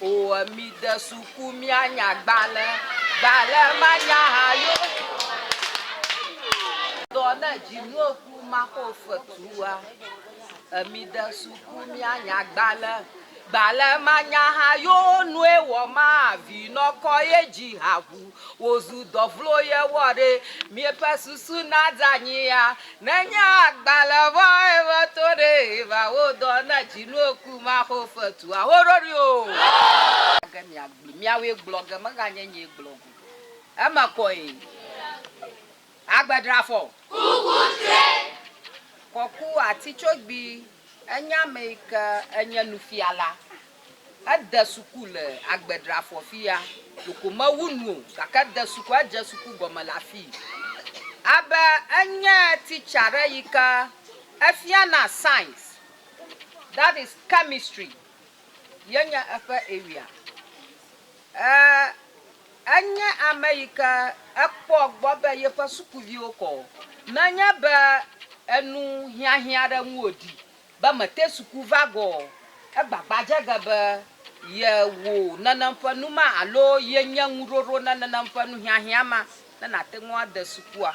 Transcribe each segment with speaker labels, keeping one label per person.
Speaker 1: Oo, mide suku míanya gbalẽ, gbalẽ manya ha yo. Dɔ ne dzi nuo ku maxo fetua. Emide suku míanya gbalẽ, gbalẽ manya ha yo nue wɔ ma vi nɔkɔ ye dzi ha ʋu. Wozu dɔvlo ye wɔ ɖe, míeƒe susu na dza nyia, Nenye agbalẽ vɔ̃e meto ɖee va wo dɔ na dzinoku maxo fetua ho ɖoɖoe o. Age miagblɔe, miawoe gblɔ ge meganye nyee gblɔ go eme kɔe. Agbe dra fɔ. Kuku tre. Kɔku ati tso gbi. Enye ame yi ke enye nufiala. Ede suku le Agbedrafɔ fiya. Ɖeko mewu nu o gake ede suku, edze suku gɔme le afii. Abe enye teacher ɖe yi ke efiana science, that is chemistry ye nye eƒe area. E, enye ame yi ke ekpɔ gbɔ be yeƒe sukuviwo kɔ, menye be enu hiahiã ɖe ŋu wòɖi Be mete suku va gɔ ɔ, égbagba dze ge be yewò nenem ƒe nu ma alo yenye ŋuɖoɖo ne nenem ƒe nuhiahiã ma ne nàte ŋu ade sukua.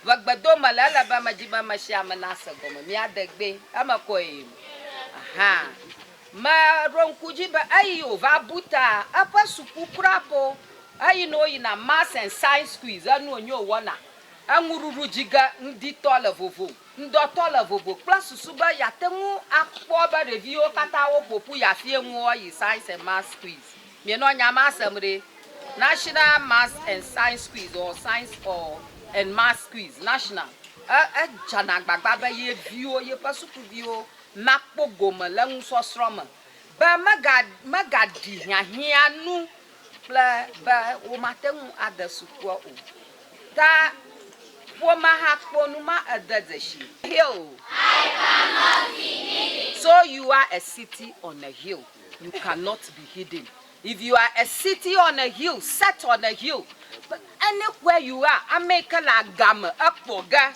Speaker 1: Ƒe gbedo me le ele be medi be ame sia ame nase gɔme míade gbɛ. Eme kɔe yim. Aha. Me ɖo ŋku dzi be eyi wòva bu ta eƒe suku kura po. Eyi ne woyina Maths and Science Quiz, enu wònyo wòwɔna. Eŋuɖuɖu dzi ge ŋditɔ le vovom. Ŋdɔtɔ le vovo kple susu be yeate ŋu akpɔ be ɖeviwo katã woƒo ƒu yi afie ŋu woayi Science and Maths Quiz. Mienɔ nya ma sem ɖe? National Maths and Science Quiz or Science or and Maths Quiz, National. E, edzana agbagba be ye viwo, yeƒe sukuviwo nakpɔ gome le nusɔsrɔ̃ me, be mega, megaɖi hiahiã nu kple be womate ŋu ade sukua o. Ta ƒomea hã kpɔ nu ma ede dzesi. Hill, So you are a city on a hill, you cannot be hidden. If you are a city on a hill, set on a hill, any where you are, ame yi ke le agame ekpɔ ge.